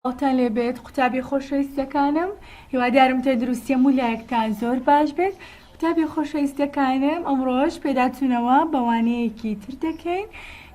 تان لێ بێت قوتابیە خۆشەویستەکانم هیوادارم تەندروستی هەموو لایەکتان زۆر باش بێت قوتابیە خۆشەویستەکانم ئەمڕۆش پێداتونەوە بە وانەیەکی تر دەکەین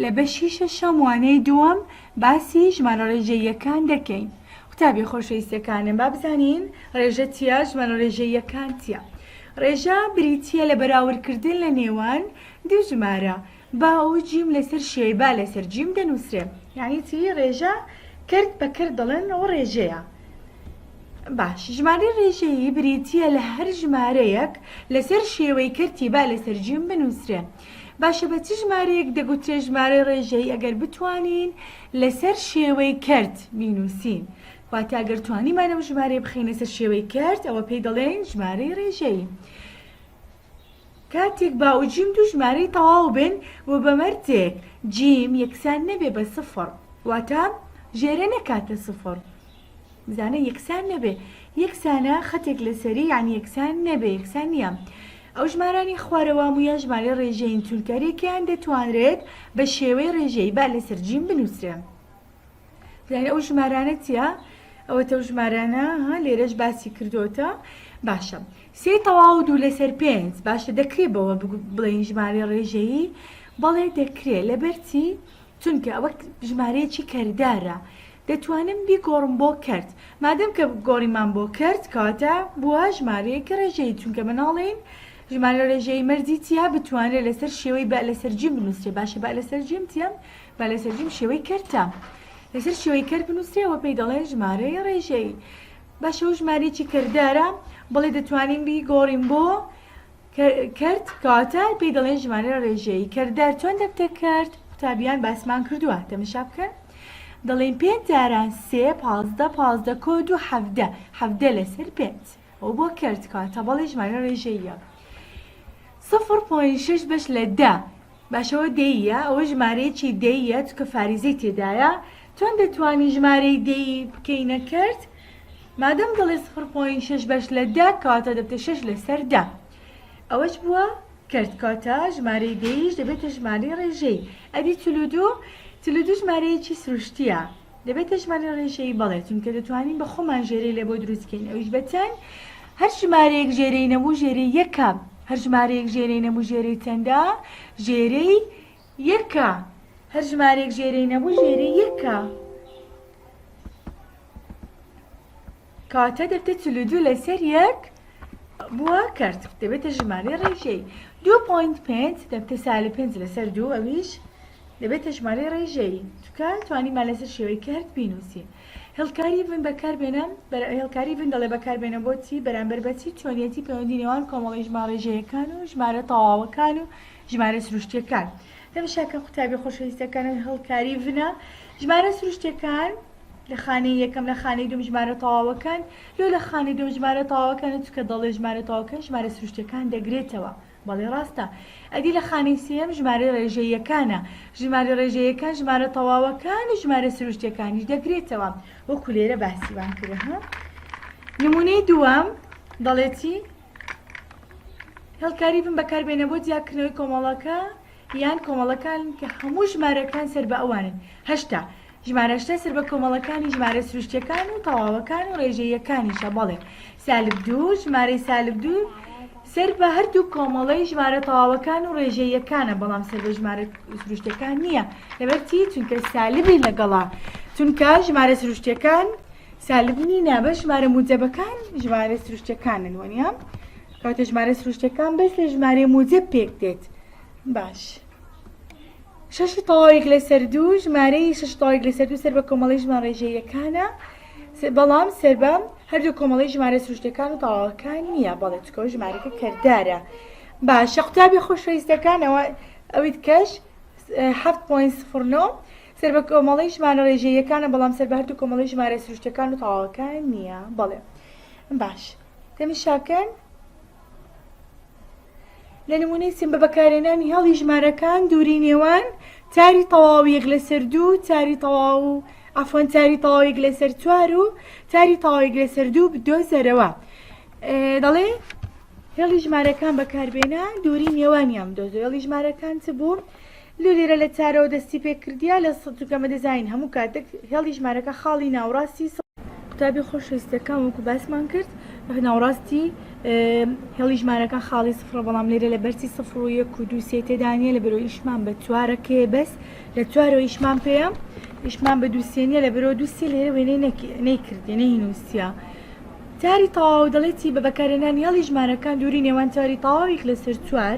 لە بەشی شەشەم وانەی دووەم باسی ژمارە ڕێژەییەکان دەکەین قوتابیە خۆشەویستەکانم با بزانین ڕێژە چیە ژمارە ڕێژەییەکان چیە ڕێژە بریتیە لە بەراوردکردن لە نێوان دوو ژمارە با و جیم لەسەر شێی با لەسەر جیم دەنووسرێ یانی چی ڕێژە کرد بە کرد دەڵێن ئەوە ڕێژەیە باش ژمارەی ڕێژەیی بریتییە لە هەر ژمارەیەک لەسەر شێوەی کەرتی با لەسەر جیم بنووسرێ باشە بە چ ژمارەیەک دەگوترێ ژمارەی ڕێژەیی ئەگەر بتوانین لەسەر شێوەی کرد بینووسین واتە ئەگەر توانیمانە و ژمارەی بخینە سەر شێوەی کرد ئەوە پێی دەڵێن ژمارەی ڕێژەیی کاتێک با و جیم دوو ژمارەی تەواو بن و بە مەرجێک جیم یەکسان نەبێ بە سفڕ واتە ژێرە نەکاتە سفڕ بزانە یەکسان نەبێ یەکسانە خەتێک لەسەری یان یەکسان نەبێ یەکسان نییە ئەو ژمارانی خوارەوە مویە ژمارەی ڕێژەین چونکە رێکیان دەتوانرێت بە شێوەی ڕێژەی با لەسەر جیم بنووسرێ یانی ئەو ژمارانە چیە ئەوە تەو ژمارانە ها لێرەش باسی کردوتە باشە سێ تەواو دوو لەسەر پێنج باشە دەکرێت بەوە بڵێن ژمارە ڕێژەیی بەڵێ دەکرێت لەبەرچی چونکە ئەوە ژمارەیەکی کەردارە دەتوانم بیگۆڕم بۆ کرد مادەم کە گۆڕیمان بۆ کرد کاتە بووە ژمارەیەکە ڕێژەیە چونکە مناڵین ژمارە ڕێژەی مەرجی چیا بتوانێت لەسەر شێوەی بە لەسەر جیم بنووسێ باشە بە لەسەر جیم تیەم با لەسەر جیم شێوەی کەرتە لەسەر شێوەی کەر بنووسرێ وە پێی دەڵێن ژمارەی ڕێژەیی باشە و ژمارەیەکی کردارە بڵێ دەتوانین بی گۆڕین بۆ کرد کاتە پێی دەڵێن ژمارە ڕێژەیی کردار چۆن دەبتە کرد قوتابیان باسمان کردووە تەمەشا بکەن دەڵێن پێنج جاران سێ پازدە پازدە کۆ دوو حەفدە حەفدە لەسەر پێنج و بۆ کەرت کا تەبەڵی ژمارە ڕێژەییە سفر پۆین شەش بەش لە دە باشەوە دەیە ئەوە ژمارەیەکی دەیە چکە فاریزەی تێدایە چۆن دەتوانین ژمارەی دەی بکەینە کەرت مادەم دەڵێ سفر پۆین شەش بەش لە دە کاتە دەبتە شەش لەسەر دە ئەوەش بووە کەرت کاتە ژمارەی دەیش دەبێتە ژمارەی ڕێژەی ئەدی چلو دوو چلو دوو ژمارەیەکی سروشتیە دەبێت تێچوومانی ڕێژەیی بەڵێ چونکە دەتوانین بە خۆمان ژێرەی لێ بۆ دروست بکەین ئەویش بە چەند هەر ژمارەیەک ژێرەی نەبوو ژێرەی یەکە هەر ژمارەیەک ژێرەی نەبوو ژێرەی چەندە ژێرەی یەکە هەر ژمارەیەک ژێرەی نەبوو ژێرەی یەکە کاتە دەبتە چل و دوو لەسەر یەک بووە کەرت دەبێتە ژمارەی ڕێژەی دو پوینت پێنج دەبتە سالب پێنج لەسەر دوو ئەویش دەبێتە ژمارەی ڕێژەی تکە توانیمان لەسەر شێوەی کەرت بینوسین هێڵکاری ڤن بەکاربێنم هێڵکاری ڤن دەڵێ بەکاربێنە بۆچی بەرامبەر بەچی چۆنیەتی پەیوەندی نێوان کۆمەڵی ژمارە ژەیەکان و ژمارە تەواوەکان و ژمارە سروشتیەکان تەمشا کە قوتابی خۆشەویستەکەنن هەڵکاری ڤنە ژمارە سروشتیەکان لە خانەی یەکەم لە خانەی دوم ژمارە تەواوەکەن لۆ لە خانەی دوم ژمارە تەواوەکەنە چکە دەڵێ ژمارە تەواوەکەن ژمارە سروشتیەکان دەگرێتەوە بەڵێ ڕاستە ئەدی لە خانەی سێیەم ژمارە ڕێژەییەکانە ژمارە ڕێژەییەکان ژمارە تەواوەکان و ژمارە سروشتیەکانیش دەگرێتەوە وەکو لێرە باسی وام کرد ها نمونەی دووەم دەڵێتی هێڵکاری ڤم بەکاربێنە بۆ جیاکردنەوەی کۆمەڵەکە یان کۆمەڵەکان کە هەموو ژمارەکان سەر بە ئەوانن هەشتا ژمارەشتە سەر بە کۆمەڵەکانی ژمارە سروشتەکان و تەواوەکان و ڕێژەیەکانیشە بەڵێ سالب دوو ژمارەی سالب دوو سەر بە هەردوو کۆمەڵەی ژمارە تەواوەکان و ڕێژەیەکانە بەڵام سەر بە ژمارە سروشتەکان نییە لەبەرچی چونکە سالبی لەگەڵا چونکە ژمارە سروشتەکان سالب نی نە بە ژمارە موجەبە کان ژمارە سروشتە کانن وە نیە کەوتە ژمارە سروشتە کان بەس لە ژمارە موجەب پێک دێت باش شەش تەواویک لە سەردوو ژمارەی شەش تەواویک لە سەردوو سەر بە کۆمەڵی ژمان ڕێژەیەکانە بەڵام سەر بە هەردوو کۆمەڵی ژمارە سروشتەکان و تەواوەکان نییە بەڵێ چکۆ ژمارەکە کردارە باشە قوتابی خۆشەویستەکانەوە ئەویت کەش 7.09 سەر بە کۆمەڵەی ژمارە ڕێژەییەکانە بەڵام سەر بە هەردوو کۆمەڵەی ژمارە سروشتیەکان و تەواوەکان نییە بەڵێ باش تەمشاکەن لە نمونەی سم بە بەکارێنانی هەڵی ژمارەکان دووری نێوان تاری تەواویەک لەسەر دوو تاری تەواو و ئەفۆن تاری تەواوێک لەسەر چوار و تاری تەواوێک لەسەر دوو بدۆزەرەوە دەڵێ هێڵی ژمارەکان بەکاربێنە دووری نێوانیان بدۆزە هێڵی ژمارەکان چ بوو؟ لۆ لێرە لە چارەوە دەستی پێ کردیە لە سە چونکەمە دەزانین هەموو کاتێک هێڵی ژمارەکە خاڵی ناوڕاستی سە. قوتابی خۆشەویستەکان وەکو باسمان کرد ناوڕاستی هێڵی ژمارەکان خاڵی سفڕە بەڵام لێرە لە بەرچی سفڕ و یەک و دوو سێ تێدا نیە لە بەرۆ ئیشمان بە چوارە کێ بەس لە چوارەوە ئیشمان پێە ئیشمان بە دوو سێ نیە لە بەرۆ دوو سێ لێرە وێنەی نەکی نەی کردی نەی نووسیا تاری تەواو دەڵێتی بە بەکارهێنانی هێڵی ژمارەکان دووری نێوان تاری تەواویک لەسەر چوار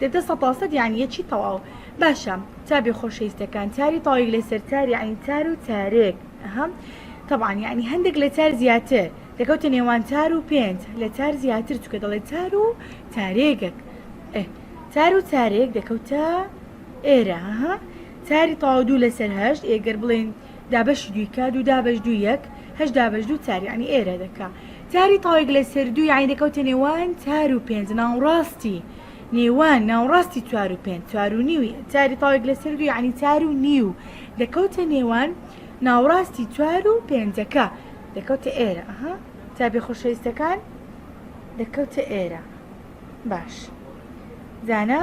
دەتە سەتاسەت یانی یەکی تەواو. باشە تابێ خۆشەیستەکان تاری تاویک لەسەر تاری عەین تار و تارێک ئەها تەبعەن یانی هەندێک لە تار زیاتر دەکەوتە نێوان تار و پێنج لە تار زیاتر چکە دەڵێ تار و تارێگەک ئه تار و تارێک دەکەوتە ئێرە ها تاری تاو دوو لەسەر هەشت ئێگەر بڵێن دابەشی دووی کا دوو دابەش دوو یەک هەشت دابەش دوو چار یانی ئێرە دەکا تاری تاوێک لەسەر دوو یانی دەکەوتە نێوان چار و پێنج ناوڕاستی نێوان ناوڕاستی چوار و پێنج چوار و نیوی چاری تاوێک لەسەر دوو یانی چار و نیو دەکەوتە نێوان ناوڕاستی چوار و پێنجەکە دەکەوتە ئێرە ئەها تابێ خۆشەویستەکان دەکەوتە ئێرە باش زانا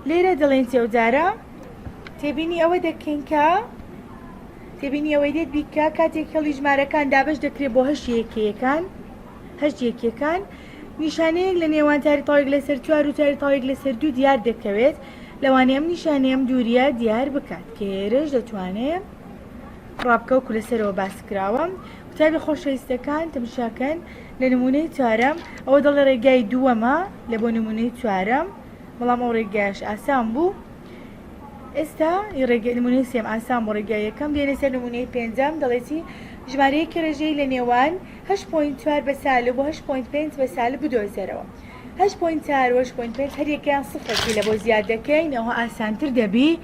لێرە دەڵێن تێودارە تێبینی ئەوە دەکەین کە تێبینی ئەوەی دێت بیکە کاتێک هێڵی ژمارەکان دابش دەکرێت بۆ هەشت یەکەکان هەشت یەکەکان نیشانەیەک لە نێوان تاری تاوێک لەسەر چوار و تاری تاوێک لەسەر دوو دیار دەکەوێت لەوانەیە ئەم نیشانەیەم دووریە دیار بکات کێرش دەتوانێت ڕابکە وەکو لەسەرەوە باسکراوە قوتابی خۆشەویستەکان تەمشاکەن لە نمونەی چوارەم ئەوە دەڵێ ڕێگای دووەمە لە بۆ نمونەی چوارەم بەڵام ئەو ڕێگایش ئاسان بوو ئێستا ڕێگە نمونەی سێم ئاسان بۆ ڕێگای یەکەم دێنە سەر نمونەی پێنجەم دەڵێتی ژمارەیەکی ڕێژەی لە نێوان 8.4 بە سالب بۆ 8.5 بە سالب بدۆزەرەوە 8.4 و 8.5 هەریەکەیان سفرەکی لە بۆ زیاد دەکەین ئەوە ئاسانتر دەبی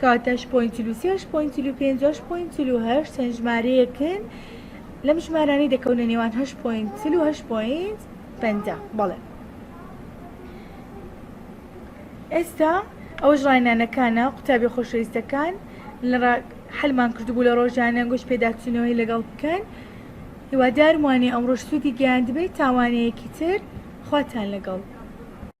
کەواتە ش پۆینت چل و سێ ش پۆینت چل و پێنج و ش پۆینت چل و هەشت چەند ژمارەیەکن لەم ژمارانەی دەکەونە نێوان هەشت پۆینت چل و هەشت پۆینت پەنجا بەڵێ ئێستا ئەوەش ڕاینانەکانە قوتابی خۆشەویستەکان لە حلمان کردبوو لە ڕۆژانە گوش پێداچوونەوەی لەگەڵ بکەن هیوادارموانێ ئەمڕۆش سوودی گەیاندبێت تاوانەیەکی تر خواتان لەگەڵ